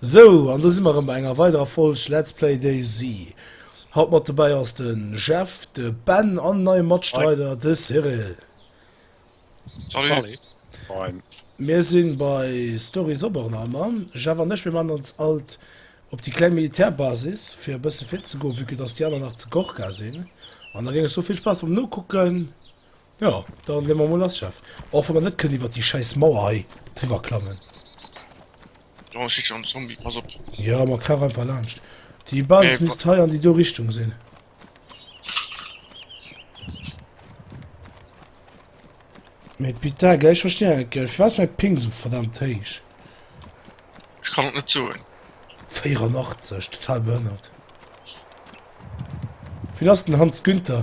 Sou, an do si mer erëm bei enger weiderer Folg Let's Play DayZ. Haut mat dobäi ass de Jeff, de Ben an en neie Matstreider, de Cyril. Salut! Moin! Mir si bei Story Sobornheimer. Jeff an ech, mir maachen ons alt op déi kleng Militärbasis, fir e bësse fit ze goen, vue que dass déi aner nach zu Gorka sinn. An da géing ech soe, vill Spaass beim Nokucken! Jo, dann leen mer mol lass, Chef. Och wa mer net kënnen iwwert déi schäiss Mauer hei driwwer klammen. Do steet schon en Zombie, pass op. Jo, mer krauch einfach laanscht. Déi Basis nee, misst hei an déi do Richtung sinn. Mee Pita, gell, ech verstinn net, gell, firwat ass mäi Ping sou verdammt héich? Ech kann et net soen. 84, total behënnert. Wien ass den Hans Günther?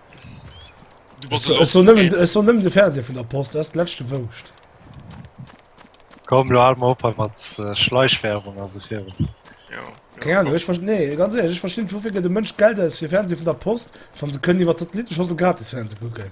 Ech soen nëmmen de Fernseher vun der Post, dat ass d'leschte Wouscht. Komm lo hal mol op hei mat Schleichwerbung a sou virun. Keng Ahnung, ech verst-, nee, ganz ehrlech, ech versti net, woufir gëtt e Mënsch Geld aus fir Fernseher vun der Post, wann se kënnen iwwer d'Satellittenschossel gratis Fernseh kucken?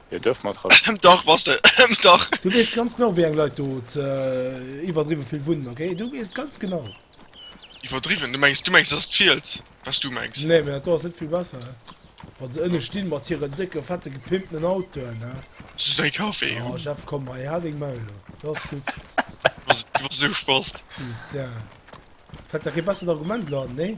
Hir Dëfmatratz. Ëm dach, bass de, ëm dach. Du weess ganz genau wéi eng Leit do iwwerdriwwe vill wunnen, ok? Du weess ganz genau. Iwwerdriwwen? Du mengs, du mengs et ass d'Fiels wat s du mengs? Nee, mee dat do ass net vill besser, he? Wa se ënne stinn mat hiren décke fette gepimpten Autoen, he? Soss däi Kaffee, he? Oh Jeff, komm hei, hal deng Maul do, dat ass gutt. Du bass esou spasst. Putain. Fält der kee bessert Argument lo an, nee?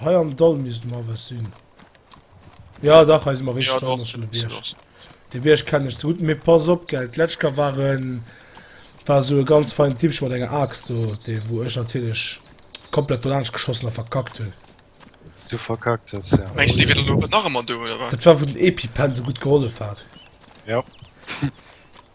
Hei am Dall misst mer was sinn. Ja, dach, hei si mer richtig dran, schon de Bierg. De Bierg kenne ich zu gut, mir pass op, gell, d'Letschka waren, war so e ganz fein Tipp, schon mal deine Axt, do, de, wo ich natürlich komplett dolansch geschossen und verkackt hun. Hast du verkackt, das, ja. Meinst du, die wieder lo nach immer do, oder was? Das war, wo den Epi-Pen so gut geholfen hat. Ja.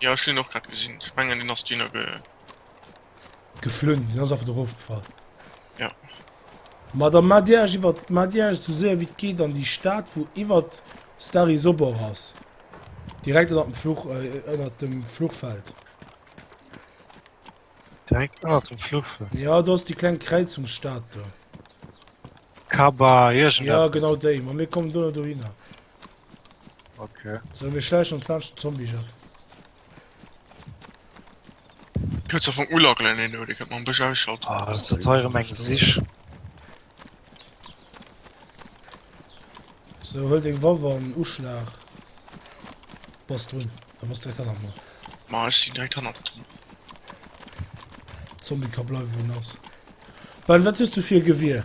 Jo ech hun en och grad gesin, ech mengen en ass duerno ge. Geflunn, en ass einfach dorof gefall. Jo. Ma da mat Dir Äech iwwert mat Dir Äech esou séier wéi et geet an déi Stad wou iwwert Stari Sobor ass, direkt ënnert dem Fluch ënnert dem Fluchfeld. Direkt ënnert dem Fluchfeld? Jo do ass déi kleng Kräizungsstad do. Kaba iergend eppes. Jo genau déi, ma mir kommen duerno dohinner. Okay. So, mir schleichen ons laanscht den Zombie-Jeff. Könnt ze vun ulagelen een no, Dir kënnt mam Bësch ausschalten. Ah, das ist teuer um eng Sich. So, huel deng Waff an Uschlag. Bass drun. Da bass direkt hanner mer. Ma ech sinn direkt hanner dran. Zombie ka bleiwe wou en ass. Ben, wat hues du fir e Gewier?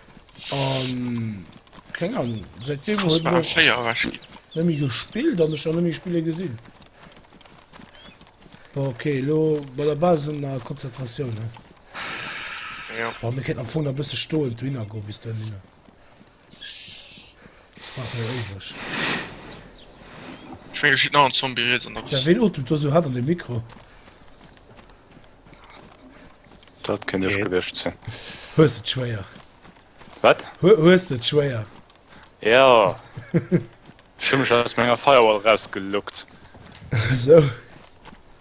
Um, keng Ahnung. Seit dem huet mir scheier rasch gin. Nemmi gespielt an ech nemmi spiele gesinn. Okay, lo bei der Basen a Konzentratioun ne. Ja. Wa mir kennen vu der bësse stoen du hinner go bis du hinne. Das macht mir ewech. Schwéier schiet nach an Zombie Rees an der. Ja, wen otemt du so hat an de Mikro? Dat kënnt ech gewescht sinn. Hues et schwéier. Wat? Hues et schwéier. Ja. Schëmmech ass mé enger Firewall rausgelockt. So.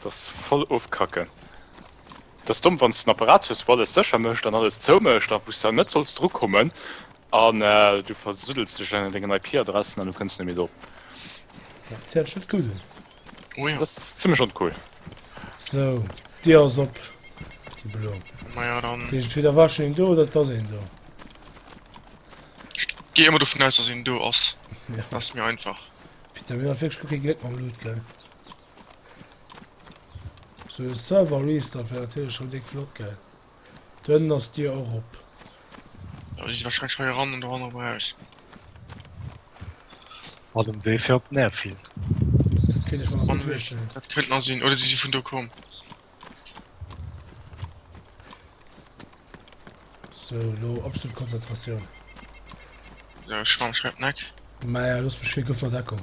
Das voll ofkacken. Das domm wann den Apparat hues, wo alles sécher mécht an alles zou mécht, a wous der net solls dru kommen an äh, du versuddels dech an dengen IP-Adressen an du kënns net méi do. Dat hëlt scho gutt un. Oh jo. Dass zimmlech uncool. Sou, déi ass op, déi blo. Ma ja dann. Dat heescht entweder war schonn een do oder et ass een do. Ech gehe emol dovun aus, dass een do ass. Ja. Ass méi einfach. Putain, mir hu wierklech guer kee Gléck mam Loot, gell? Sou e Server-Restart wär natierlech schonn déck flott, gell? D'Hënn ass Dier erop. Elo si se wahrscheinlech hei eran an do hannerem Haus. War dem Wee fir op den Airfield. Dat kéint ech mer nach gutt virstellen. Dat kënnt nach sinn. Oder si si vun do komm. So, lo absolut Konzentratioun. So, Schramm, schreib Neck. Maja, looss mech fir, gëff mer Deckung.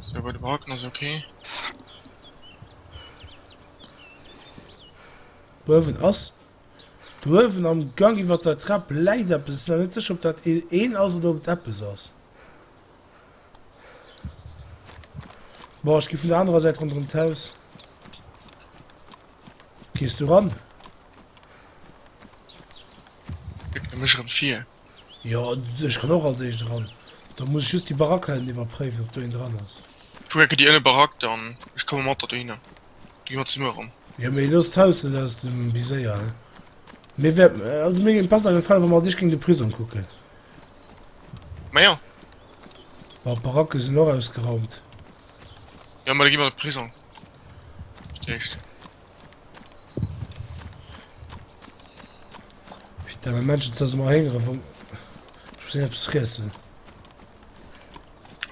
Sou bei de Baracken ass ok. Uewen ass d'Uewen am Gang iwwer der Trap läit eppes. Ech sinn awer net sécher ob dat een ass oder ob et eppes ass. Bon ech gi vun der anerer Säit ronderëm d'Haus. Gees du ran? Ech wéckele mech erëm vir. Jo, ech kann och als éischt eran. Da muss ech just déi Barack hei ënnen iwwerpréiwen, ob do een dran ass. Woher kritt Dir ënne Barack dann? Ech komme mat der dohinner, da gi mer zesumme eran. Jo, mee looss d'Haus net aus dem Viséier, hein. Mir wäert, also mir géing besser gefalen, wa mer als éischt géing de Prisong kucken. Ma jo. Bon, d'Baracke sinn och ausgeraumt. Jo, ma da gi mer an de Prisong als éischt. Putain, mein Menschen sind mal hingere von. Ich muss etwas fressen.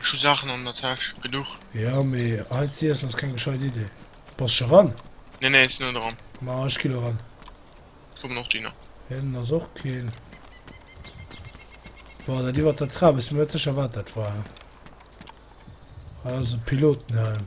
Schon Sachen an der Tasche, genug. Ja, mir halt sie erst, das ist keine gescheite Idee. Passt schon ran? Nee, nee, ist nur dran. Na, ich gehe ran. Komm noch Diener. Ja, dann ist auch kein. Boah, da die war der Trabe, ist mir jetzt sicher, was das war. Also Pilotenhelm.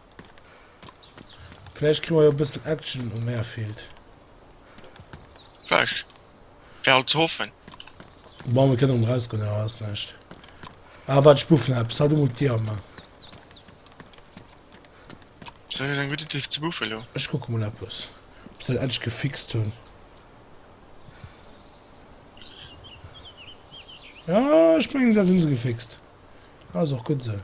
Vläicht kréie mer jo e bëssen Action um Airfield. Vläicht. Wär alt ze hoffen. Bon, mir kënnen erausgoen, awer ass näischt. Ah, wat, ech buffen eppes. Halt emol d'Dier op, Mann. Sou, ass eng gutt Iddi ze buffen elo. Ech kucke mol eppes, ob se dat endlech gefixt hunn. Ja, ech mengen, dat hunn se gefixt. Ass och gutt esou.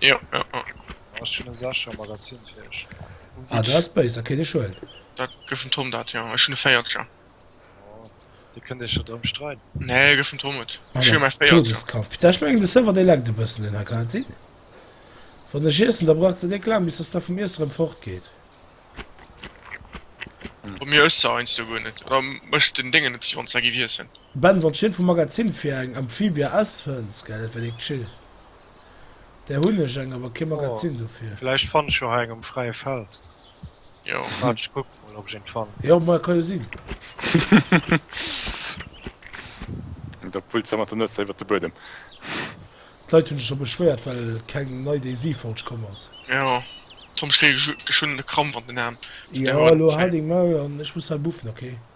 Jo, jo, jo. Ah, ech hunn e Secher Magazin fir iech. Oh, Ah, dat gutt. ass béis, da kéint ech huelen. Da gëff dem Tom dat, jo. Ech hunn e Véiercher. Oh, dir kënnt iech jo drëm streiden. Nee, gëff dem Tom et. Ech hu jo mäi Véiercher. Todeskampf. Peter, ech mengen de Server dee laggt e bëssen den Här, kann dat sinn? Wann ech iessen, da braucht se déck laang bis dass dat vum Iesse rëm fort geet. Bei mir ësst se heiansdo guer net. Oder mécht den Déngen net vill, wann s de giff iessen. Ben, wann s de vum Magazin fir eng Amphibia S fënns, gell, dat wär déck chill. Där hunn ech eng, awer kee Magazin dofir. Vläicht fann ech jo hei eng um fräie Feld. Waart, ech kucken emol, ob ech eent fannen. Jo, ma kann jo sinn. Da pullt se mat der Nues iwwert de Buedem. D'Leit hunn sech scho beschwéiert, well keng nei Daisy-Folg komm ass. Jo, Tom, ech kréie geschwënn e Krampf an den Aarm. Jo, elo hal deng Maul an ech muss hei buffen, ok?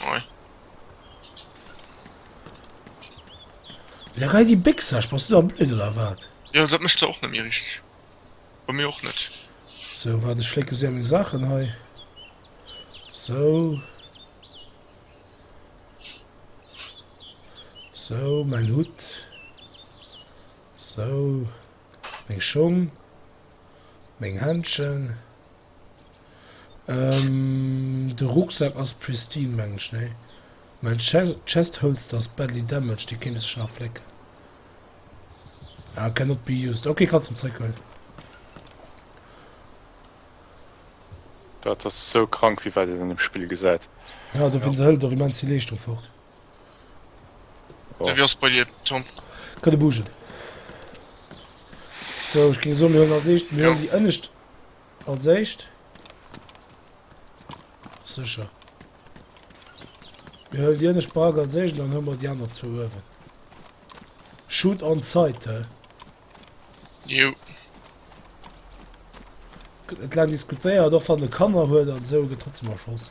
Moin. Da gei die Bix ech bas du da blöd oder wat? Jo dat mecht se och net méi richteg. Bei mir och net. So wat ech flécke se meng Saachen hei. So. So mein Hut. So meng Schong. Meng Händschen. Ehm de Rucksack ass pristine meng ech nee mäin chest holster ass badly damaged dee kéint e sech nach flécken ah cannot be used ok kanns en zréck huelen. Dat ass esou krank wéi wat een an dem Spill gesäit. Ja dofir se hëlt och immens vill Leeschtung fort. Wéi ass et bei dir Tom? Kann e bougen. Sou ech géing soen mir huelen als éischt mir huelen déi ënnescht Als éischt. Sécher. Mir hëll Dir ech Barack als éischt, dann hu mer déi aner zwou uewen. Shoot on site, hä? Jo. Et lang diskutéiert, och wann e Kanner huet an esou, gëtt trotzdem erschoss.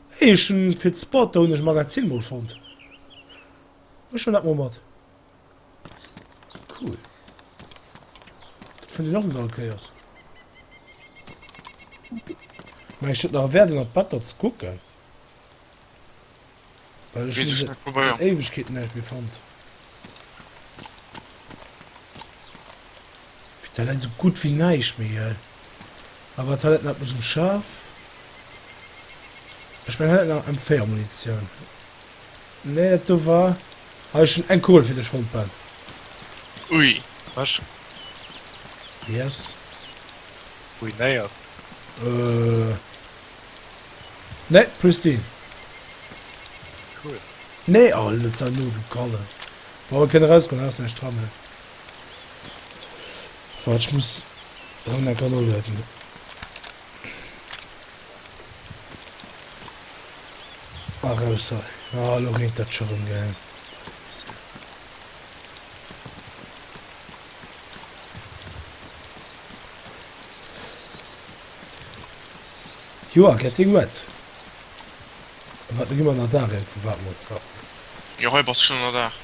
Eechen fir d'Spotte hunn ech Magazin mol fonnt. Ech hun dat mol mat. Cool. Dat fonnt ech och net all Kéiers. Mä ech huet nach Wäert ënnert d'Better ze kucken. Well ech hun seit Éiwegkeeten näischt méi fonnt. Fir d'Toilette esou gutt wéi näischt méi gell. Awer Toilette mat Musel scharf. Ech mengen hat nach M4 Munitioun. Nee dat do war hei schon eng Kugel fir dech Holtball. Ui ech. Yes. Ruinéiert. Euh nee Pristine. Cool. Nee oh net sei no du Kallef. Bon mer kënnen erausgoen ass näischt dran. Wart, ech muss rëm eng Kéier noladen. A raus hei. Ah, elo reent dat scho rëm, gell. Joer getting wet. Wat gi mer ënner Daach eng vu waarem Uertwar. Jo hei bass scho ënner Daach.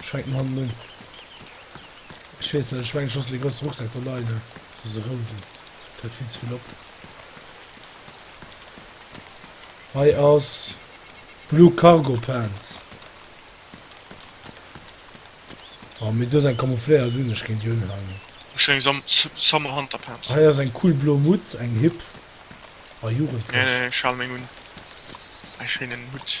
Ech fänken hannen un. Ech weess net, ech mengen ech loossen dee groussen Rucksak do leien, ne? Dëse rouden fält vill ze vill op. Hei ass Blue Cargo Pants. Oh, mir do eng camoufléiert un, ech géint déi unhaalen. Ech hun eng Sam Summer Hunter Pants. Hei ass eng cool blo Mutz, eng hip a jugendlech. Nee, nee, ech hale meng un. Eng schéinen Hutt.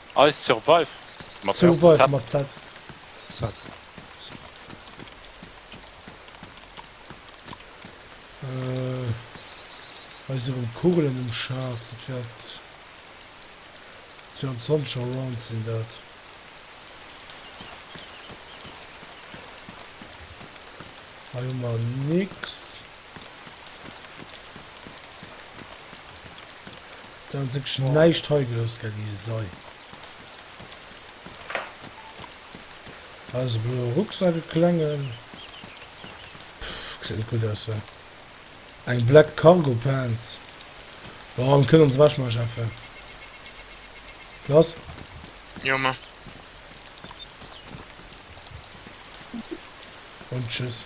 Ice Survive mat Z. Survive mat Z. Z. Äh, eis erëm Kugelen um Schaf, dat wäert 22 Around sinn dat. Hei hu mer nix. Ze hunn wierklech näischt hei gelooss, gell, déi Sei. Hei ass e bloe Rucksack, e klengen. Pff, gesäit net gutt aus, wa? Eng black Cargo Pants. Bon, an kënnt ons Wäschmasch afe. Lass. Jo, ma. Und tschüss.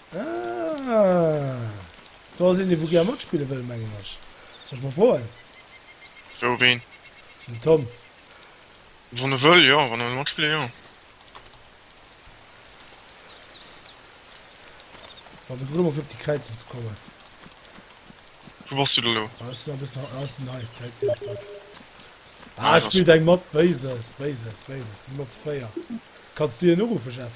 Ah. Do ass een, dee wou gär matspille wëll, mengen ech. Soll ech mol froen? Wou, ween? Den Tom. Wann e wëll, jo. Wann e wëll matspille, jo. Wa mir grad emol fir op déi Kräizung ze kommen. Wou bass du da lo? Ah, ech sinn a bëssen nach aussen hei. D'Welt bleift do. Ah, Ah, et spillt eng mat. Béises, Béises, Béises. Da si mer ze véier. Kanns du hien uruffen, Jeff?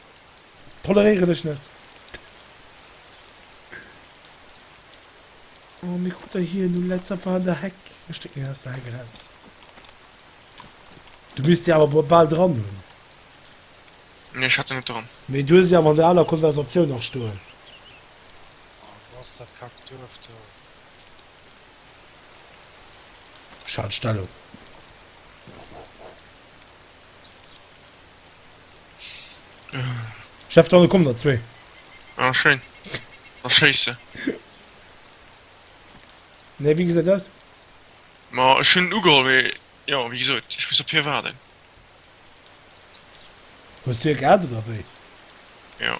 Toleréieren ech net. Oh, mir krut der hien um Letz einfach an der Heck. Ech stécken hien aus der Heck eraus. Du misst se awer bal dran hunn. Nee, ech hat se net dran. Mee du hues se awer an der aler Konversatioun nach stoen. Oh, wou ass dat kackt Duerf do? Ech halen d'Stellung. Chef dann kommen der zwee. Ah, schön. Dann schieß sie. Nee, wie gesagt das? Ma, ich hun ugeholt, me, ja, wie gesagt, ich muss op hier warten. Hues du e grad oder wéi? Ja.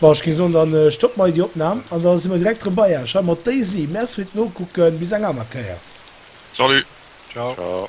Bon, ech géing soen, dann stoppen mer hei déi Opnahm an da si mer direkt erëm bei Iech hei mat Daisy. Merci fir d'Nokucken, bis eng aner Kéier. Salut! Ciao! Ciao!